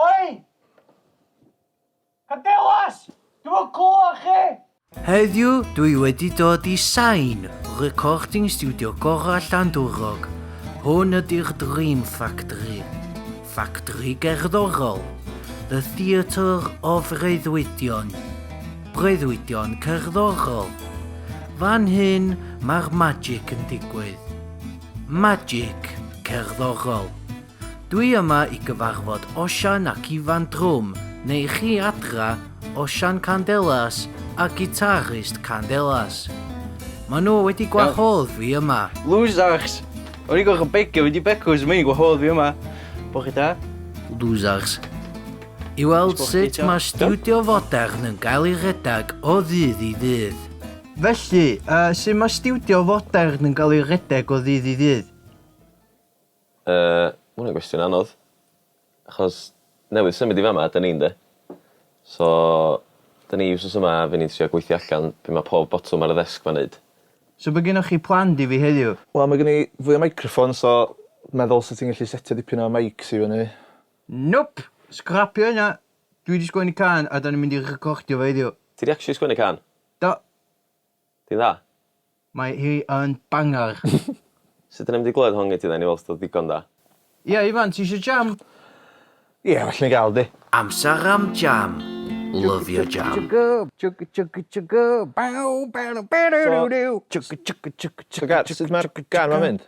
Oi! Cadelas! Dwi'm yn clywed chi! Heddiw dwi wedi dod i Sain, recording studio gorau Llandwrog. Hwn ydy'r Dream Factory. Factory gerddorol. The Theatre of Reuddwydion. Breuddwydion cerddorol. Fan hyn mae'r magic yn digwydd. Magic cerddorol. Dwi yma i gyfarfod Osian ac Ifan drwm, neu chi adra, Osian Candelas a gitarist Candelas. Maen nhw wedi gwahodd fi yma. Losers! O'n i'n gorfod begio mynd i Becws, mae hi'n gwahodd fi yma. Bo chi da? Losers. I weld sut mae stiwdio fodern yn cael ei rhedeg o ddydd i ddydd. Felly, yy, sut mae stiwdio fodern yn cael ei rhedeg o ddydd i ddydd? Yy, ma' wnna'n gwestiwn anodd. Achos newydd symud i fama 'dyn ni ynde? So 'dyn ni wsos yma fy' ni'n trio gweithio allan be' ma' pob botwm ar y ddesg 'ma'n neud. So be' gynnoch chi planned i fi heddiw? Wel ma' gen i fwy o meicroffons so meddwl sa ti'n gallu setio dipyn o meics i fyny. Nope! Sgrapio hynna! Dwi 'di sgwennu cân a 'dan ni'n mynd i recordio fo heddiw. Ti 'di actually sgwennu cân? Do. Ti'n dda? Mae hi yn banger! Sut dyn ni'm di glywed hon gen ti dden i weld os di o ddigon da. Ia Ifan ti isio jam? Ia well ni gael di. Amser am jam! Lyfio jam! So, so Gar, sut mae'r gan 'ma'n mynd?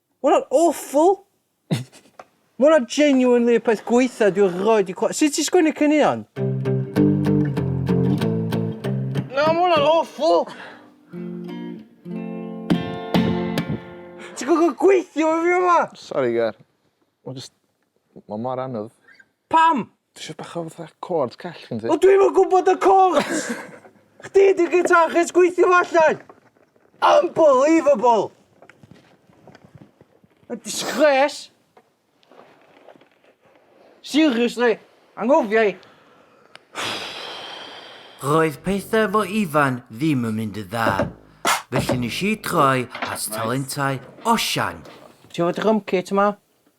Ma' wnna'n awful! Ma' wnna genuinely y peth gwaetha dwi erioed 'di clywed. Sut ti'n sgwennu caneuon? Na, ma' wnna'n awful! Ti'n gorfod gweithio efo fi yma! Sori Gar. Ma' jyst... Ma' mor anodd. Pam? Dwi isio bach o fatha chords call gen ti. O dwi'm yn gwybod y chords! Chdi di guitarist gweithio fo allan! Unbelievable! Mae'n disgres! Seriously, anghofia i! Roedd pethau efo Ifan ddim yn mynd yn dda, felly nes i droi at talentau Osian. Ti efo drum kit yma?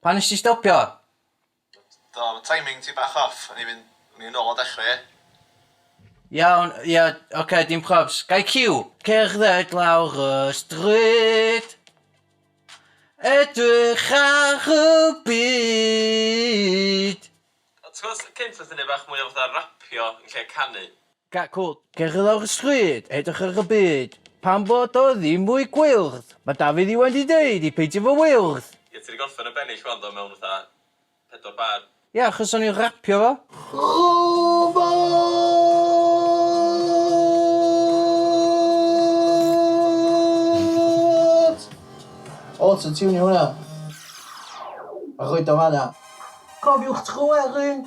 Pan nes ti stopio? Do, ma timing ti bach off, o'n i fynd, o'n i nôl o dechre. Iawn, ia, ocê, dim probs. Gai cyw? Cerdded lawr y stryd Edrych ar y byd. Ti'n gwbod, cynt oedden ni'n neud bach mwy o fatha rapio yn lle canu. Cacwn, cerdded ar y stryd, edrych ar y byd. Pan bod o ddim mwy gwyrdd, mae Dafydd Iwan 'di deud i peidio fo wyrdd! Ie, ti 'di gorffen y bennill wan do, mewn fatha pedwar bar. Ie, achos o'n i'n rapio fo. Rhobot! Autotiwnio hwnna. A rhoid o fan'na. Cofiwch tro Erin!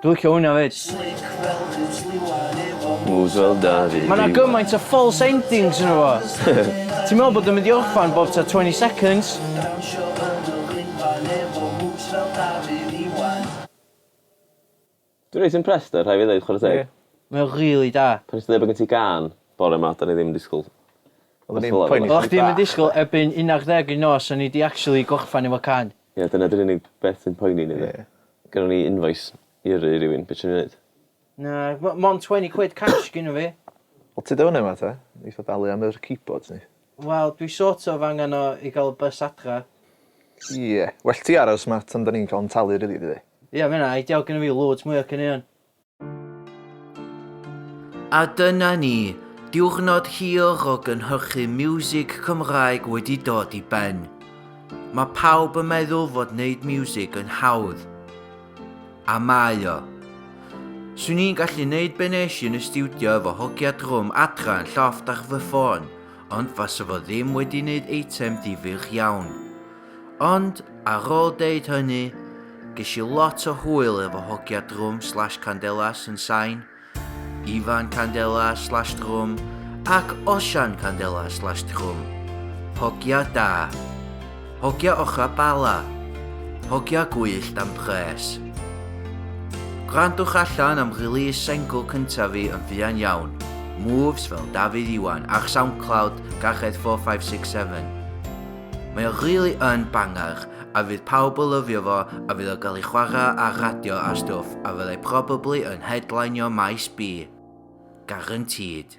Dwi licio wnna 'fyd. Ma' 'na gymaint o false endings yno fo. Ti'n me'wl bod o'n mynd i orffan bob tua twenty seconds. Dwi reit impressed 'da fe rhai' fi ddeud chware teg. Ie. Mae o rili da. Pan nest ti ddeud bo' gen ti gân bore 'ma do'n i ddim yn disgwl Oddach chdi'm yn disgwl erbyn unarddeg y nos o'n i 'di actually gorffan efo cân. Ie dyna dy'r unig beth sy'n poeni ni 'de. Ie. Gynnon ni invoice i yrru i rywun be' ti myn' i neud? Na m- mond twen'y quid cash gynno fi. Wel tyd o fynny yma te. Neith o dalu am yr keyboards ni. Wel dwi sort of angan o i ga'l y bys adra. Ie. Well ti aros ma' tan 'dan ni'n ca'l 'yn talu rili dydi? Ie ma' ynna ideal gynno fi loads mwy o caneuon. A dyna ni, diwrnod hir o gynhyrchu miwsig Cymraeg wedi dod i ben. Mae pawb yn meddwl fod wneud miwsig yn hawdd. A mae o. Swn i'n gallu wneud be nes i yn y stiwdio efo hogia drwm adra yn llofft ar fy ffôn, ond fasa fo ddim wedi wneud eitem difyr iawn. Ond, ar ôl deud hynny, ges i lot o hwyl efo hogia drwm slash candelas yn sain, Ifan candelas slash drwm ac Osian candelas slash drwm. Hogia da. Hogia ochra bala. Hogia gwyllt am pres. Gwrandwch allan am release sengl cyntaf fi yn fuan iawn, Moves fel Dafydd Iwan ar Soundcloud, Garched 4567. Mae o really yn banger a fydd pawb o lyfio fo a fydd o gael ei chwarae ar radio a stwff a fyddai probably yn headlineio maes B. Guaranteed.